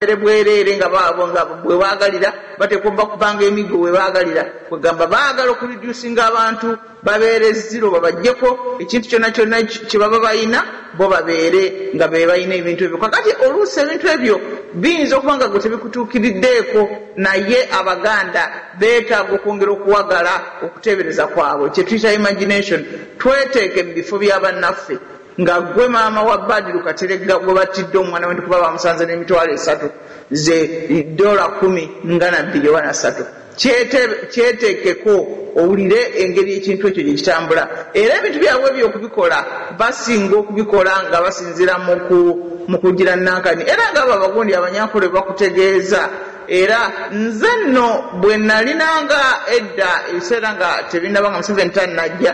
ere bwereere nga baabo nga bwe baagalira bateekwa oba kubanga emiggo we baagalira kwegamba baagala okuredusinga abantu babeere ziro babajjeko ekintu kyonna kyonna kye baba balina bo babeere nga be balina ebintu ebyo kakati oluusi ebintu ebyo biyinza okuba nga gwe tebikutuukiriddeeko naye abaganda beetaaga okwongera okuwagala okuteebereza kwabwe kye tuyita imagination tweteeke mu bifo bya bannaffe nga gwe maama wa badiru kateregga gwe battidde omwana wendi kuba bamusanze n'emitwalo esatu ze dola kumi nga nabbiri oba nasatu kyeteekeko owulire engeri ekintu ekyo gye kitambula era ebintu byabwe ebyo okubikola basinga okubikola nga basinzira mu kugira nankani era nga abo abagundi abanyankole bakutegeeza era nze nno bwe nalinanga edda ebiseera nga tebinaba nga museveni tannajja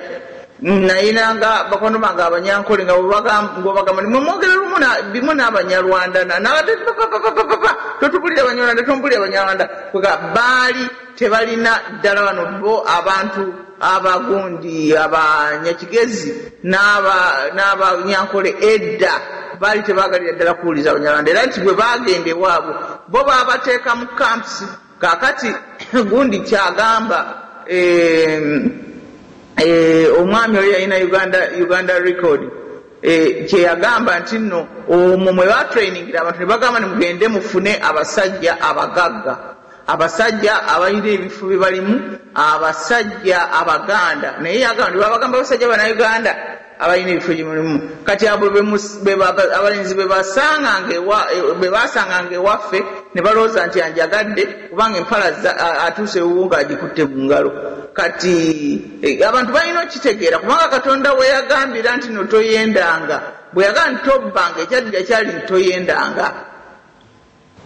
Nayina nga bakwano bange abanyankole nga bwebagamba ni mwemwogera lumu bimu n'abanyarwanda nabadde papapapapapa totubulira abanyarwanda tombulira abanyarwanda kwega baali tebalina ddala bano bo abantu abagundi abanyakigezi n'abanyankole edda baali tebagalira ddala kuwuliza abanyarwanda era nti bwe bagenda ewaabwe bo babateeka mu camps Kakati gundi kyagamba eeh eeh omwami oli yalina Uganda Uganda record eeh kyeyagamba nti nno omwo mwebatrainingira abantu nebagamba nti mugende mufune abasajja abagagga abasajja abalina ebifo byebalimu abasajja abaganda naye yagamba nti bwebabagamba abasajja banauganda abalina ebifo gye mulimu kati abo abalenzi be baasanganga ewaffe ne balowooza nti anjagadde kubanga empala atuuse ewuwo ng'agikutte mu ngalo. Kati e, abantu balina okitegeera kubanga Katonda we yagambira nti no toyendanga, bwe yagamba nti tobbanga, ekyaddira kyali nti toyendanga.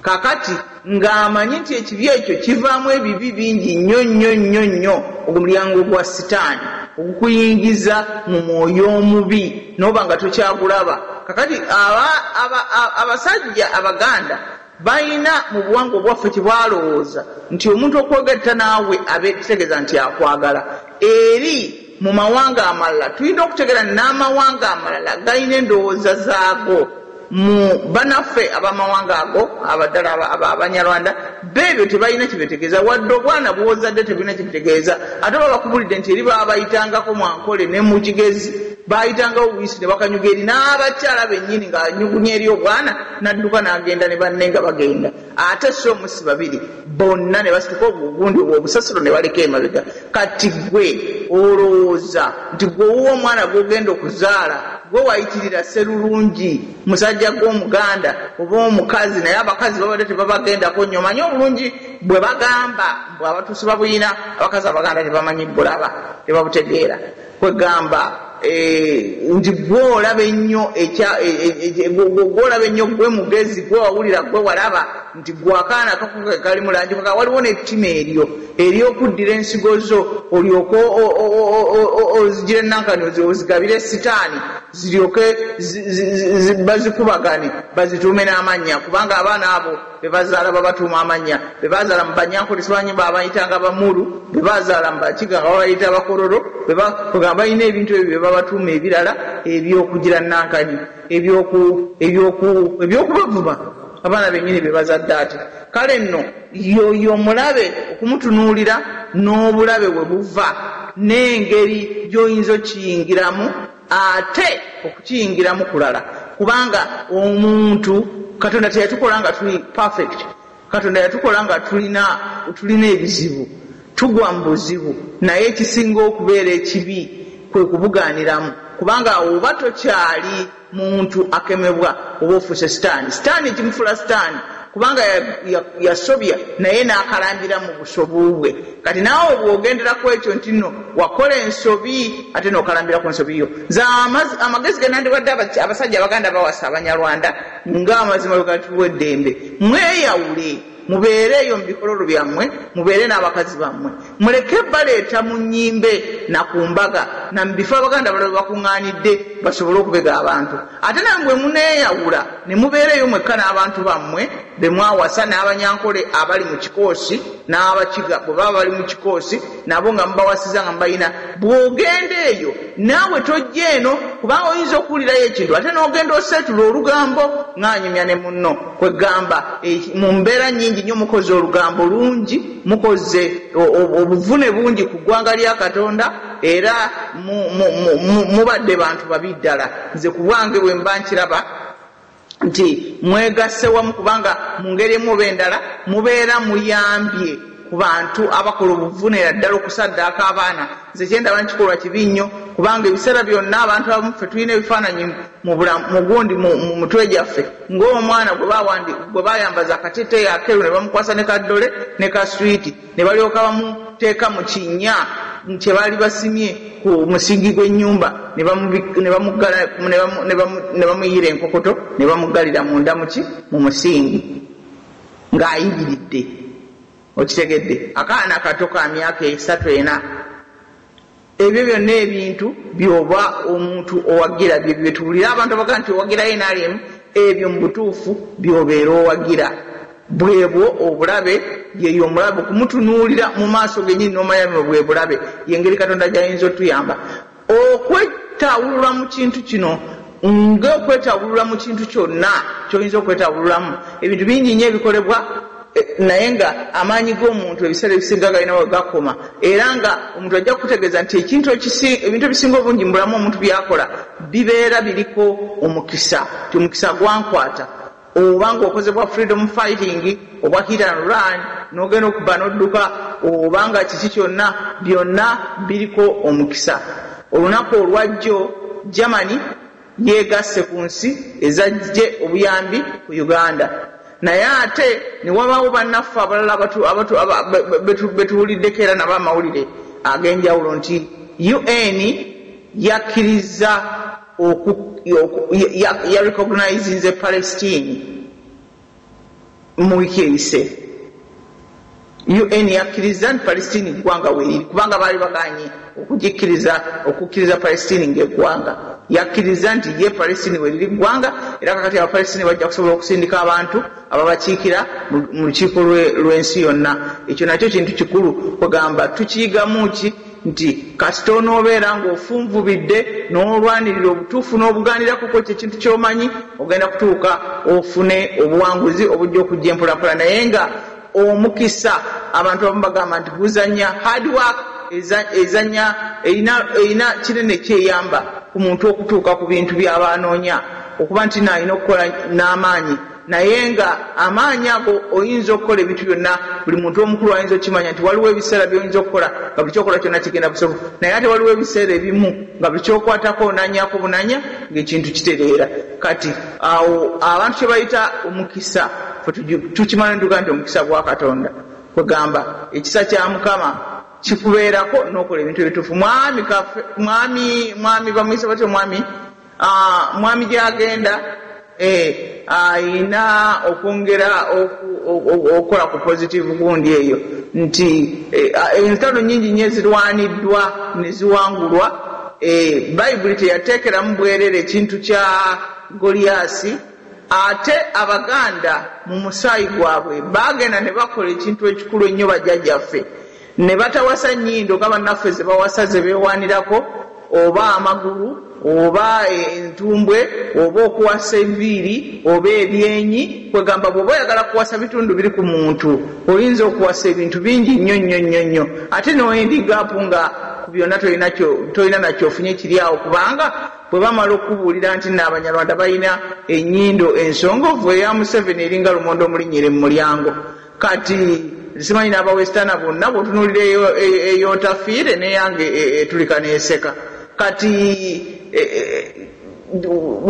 Kaakati, nga amanyi nti ekibi ekyo kivaamu ebibi bingi nnyo, nnyo, nnyo, nnyo, ogwo mulyango gwa Sitaani ogukuyingiza mu mwoyo omubi, n'oba nga tokyagulaba. Kaakati, aba, aba, a, abasajja Abaganda balina, mu buwangwa obwaffe, kye balowooza nti omuntu okwogerta naawe abe, kitegeeza nti akwagala. Eri. Mu mawanga amalala tulina okutegera n'amawanga amalala galina endowooza zaago mu banaffe abamawanga ago abadala aba abanyarwanda beebyo tebalina kyebetegeeza wadde obwana bwozadde tebulina kyebitegeeza ate oba bakubulidde nti eri baabayitangako mwankole ne mu kigezi baayitangawo buyisi ne bakanyuga eri n'abakyala bennyini ng'anyugunya eri obwana n'adduka n'agenda ne banne nga bagenda ate si omu si babiri bonna ne basituka obugundi obwo obusasiro ne baleka emabega kati gwe olowooza nti gwewuwa omwana gwogenda okuzaala gwe wayitirira serulungi musajja gw'omuganda oba omukazi naye abakazi babadde tebabagendako nnyo manye obulungi bwe bagamba bwe abatuusi babuyina abakazi abaganda tebamanyi bulaba tebabutegeera Kwegamba eeh nti gwe olaba ennyo ekya gwe olaba ennyo gwe mugezi gwe wawulira gwe walaba nti gwe akaana kako kekalimu langi kwegamba waliwo nettima eryo eryokuddira ensigo zo olyoke ozijire nankani ozigabire sitaani ziryoke bazikubagane bazituume n'amannya kubanga abaana abo bebazaala babatuuma amannya bebazaala mu banyankulisa banyi babayitanga bamulu bebazaala mu bakiga nga babayita abakororo nga balina ebintu ebyo bebabatuuma ebirala ebyokugira nankani ebyokubavuma abaana benyini bebazadde ati kale nno yoyo omulabe okumutunuulira n'obulabe we buva n'engeri gyoyinza okiyingiramu Ate okukiyingiramu kulala kubanga omuntu Katonda teyatukola nga tuli perfect. Katonda yatukola nga tulina tulina ebizibu, tugwa mu buzibu naye ekisinga okubeera ekibi kwe kubugaaniramu kubanga awo oba tokyali muntu akemebwa oba ofuuse sitaani. Sitaani ekimufuula sitaani kubanga yasobya naye n'akalambira mu busobu bwe. Kati naawe bwogendera kwekyo nti no wakola ensobi ate nokalambira ku nsobi yo nze amagezi genandiwadde abasajja abaganda bawasa abanyarwanda nga amazima bwegatuwa eddembe mweyawule mubeere eyo mu bikololo byammwe mubeere n'abakazi bammwe muleke baleeta mu nyimbe na ku mbaga na mu bifo abaganda balala bakuŋŋaanidde basobole okubega abantu ate nawe bwe muneeyawula ne mubeera eyo mwekka n'abantu bammwe be mwawasa n'Abanyankole abali mu kikoosi n'Abakiga bwe baba bali mu kikoosi nabo nga mubawasiza nga mubalina, bw'ogenda eyo naawe tojja eno kubanga oyinza okuwulirayo ekintu ate n'ogenda oseetula olugambo ng'anyumya ne munno. Kwe ggamba mu mbeera nnyingi nnyo mukoze olugambo lungi, mukoze obuvune bungi ku ggwanga lya Katonda era mubadde bantu babi ddala. Nze ku bwange bwe mba nkiraba. nti mwegasse wamu kubanga mu ngeri emu oba endala mubeera muyambye ku bantu abakola obuvunera ddala okusaddaaka abaana. Nze kye ndaba nti kikolwa kibi nnyo kubanga ebiseera byonna abantu abamu ffe tulina ebifaananyi mu gundi mu mutwe gyaffe ng'omwana gwe bayambaza akateeteeyi akeeru ne bamukwasa ne ka ddole ne ka swiiti. ne balyoka bamuteeka mu kinnya kye baali basimye ku musingi gw'ennyumba ne bamuggala ne bamuyiira enkokoto ne bamuggalira munda muki mu musingi ng'ayimiridde okitegedde akaana kato ka myaka esatu ena Ebyo byonna ebintu byoba omuntu owagira bye byetuwulira abantu abaga nti owagira nrm ebyo mubutuufu byobeera owagira bwebwo obulabe yeyo omulabe okumutunuulira mumaaso genyini nomanya buno bwebulabe yengeri katonda gyayinza otuyamba okwetawulula mukintu kino ng'okwetabulula mu kintu kyonna kyoyinza okwetabululamu ebintu bingi nnyo ebikolebwa e, naye nga amaanyi g'omuntu ebiseera ebisinga galina we gakoma era nga omuntu ajja kukutegeeza nti ekintu ebintu ebisinga obungi mubulamu omuntu byakola bibeera biriko omukisa ti omukisa gwankwata Oba nga okoze bwa freedom fighting, obwa hit and run, nogenda okubba nodduka, oba nga kiki kyonna, byonna biriko omukisa. Olunaku olwajjo Germany yegasse ku nsi ezajje obuyambi ku Uganda, naye ate newabaawo bannaffe abalala betuwuliddeko era nabo amawulire agenjawulo nti UN yakkirizza. oku, oku, ya, ya recognizinze Palestine mu wiki eyise UN yakkirizza nti Palestine ggwanga weeriri kubanga baali baganye okugikkiriza okukkiriza Palestine ng'eggwanga yakkirizza nti ye Palestine weeriri ggwanga era kakati Abapalestine bajja kusobola okusindika abantu ababakiikira mu lukiiko lw'ensi yonna ekyo nakyo kintu kikulu kwegamba tukiyigamu ki nti kasita onoobeera ng'ofunvubidde n'olwanirira obutuufu n'obugaanirako kw'ekyo ekintu ky'omanyi, ogenda kutuuka ofune obuwanguzi obujja okujja empolampola naye nga omukisa abantu abamu bagamba nti guzannya, hard work ezannya erina erina kinene ky'eyamba ku muntu okutuuka ku bintu by'aba anoonya okuba nti alina okukola n'amaanyi. Naye nga amaanyi ago oyinza okukola ebintu byonna, buli muntu omukulu ayinza okukimanya nti waliwo ebiseera byoyinza okukola nga buli kyokola kyonna kigenda busofu, naye ate waliwo ebiseera ebimu nga buli kyokwatako onanyako bunanya nga ekintu kitereera. Kati awo abantu kyebayita omukisa ffe tukimala netugamba nti omukisa gwa Katonda. Kwegamba ekisa kya Mukama kikubeerako nokola ebintu ebituufu. Mwami kafe, mwami, mwami bamuyise batya omwami? Mwami gyagenda eeh ayina okwongera okukola ku positive gundi eyo nti entalo nyingi nyo ezirwaniddwa neziwangulwa eeh bayibuli teyatekeramu bwerere kintu kya goliasi ate abaganda mu musaayi gwabwe bagenda nebakola ekintu ekikulu ennyo bajajaffe Ne batawasa nnyindo nga bannaffe ze bawasa ze beewaanirako oba amagulu oba entumbwe oba okuwasa enviiri oba ebyenyi kwegamba bw'oba oyagala kuwasa bitundu biri ku muntu oyinza okuwasa ebintu bingi nnyo nnyo nnyo nnyo ate n'oendigapu nga ku byonna tolina na kyofunye kiri awo kubanga bwe bamala okukubuulira nti nno Abanyarwanda balina ennyindo ensongovu eya Museveni eringa lumonde omulinnyire mu mulyango Kati simanyi naba westerner bonna bwotunulira eyotafiire neyange etulika neseka kati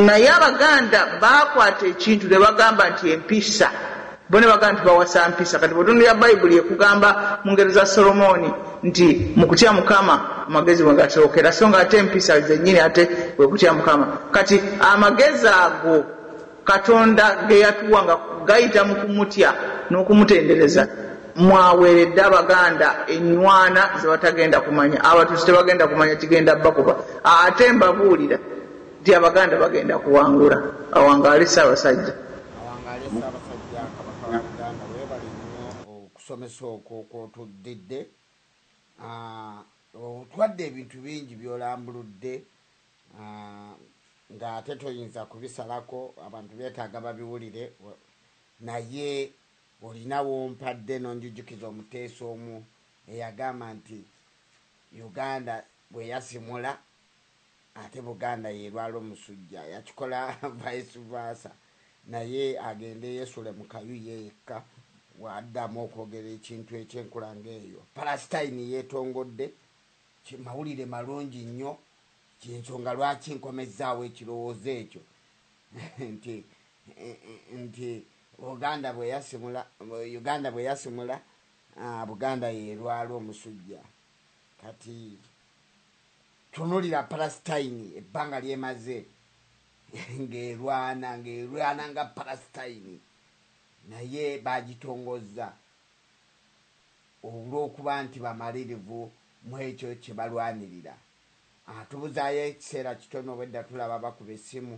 naye abaganda bakwata ekintu nebagamba nti empisa bo nebagamba nti bawasa mpisa kati bwotunulira bayibuli ekugamba mungero za solomooni nti mukutya mukama amagezi mwegasookera so nga ate empisa zenyini ate kwekutya mukama kati amagezi ago Katonda ge yatuwa nga gayita mu kumutya n'okumutendereza mw'aweeredde Abaganda ennywana ze batagenda kumanya. Abatuusi tebagenda kumanya kigenda bakuba. Ate mbabuulira nti Abaganda bagenda kuwangula. Awangaale Ssaabasajja. Awangaale Ssaabasajja Kabaka wa Buganda weebale nnyo okusomesa okwo kw'otuddidde. Otwadde ebintu bingi by'olambuludde nga ate toyinza kubisalako abantu betaaga babiwulire naye olina wompadde nonjujukiza omuteesa omu eyagamba nti Uganda bweyasimula ate Buganda yelwala omusujja yakikola vice versa naye agende yesule mukayu ye yekka bwadamu okwogera ekintu ekyenkula nga eyo Palestine yetongodde Mawulire malungi nnyo. Y'ensonga lwaki nkomezzaawo ekirowoozo ekyo nti, nti Buganda bwe yasimula, Uganda bwe yasimula, Buganda y'erwala omusujja. Kati tunulira Palasitayini ebbanga ly'emaze ng'erwana, ng'erwana nga Palasitayini, naye baagitongozza. Olw'okuba nti bamalirivu mu ekyo kye balwanirira, tubuzaayo ekiseera kitono obwedda tulaba bakuba essimu.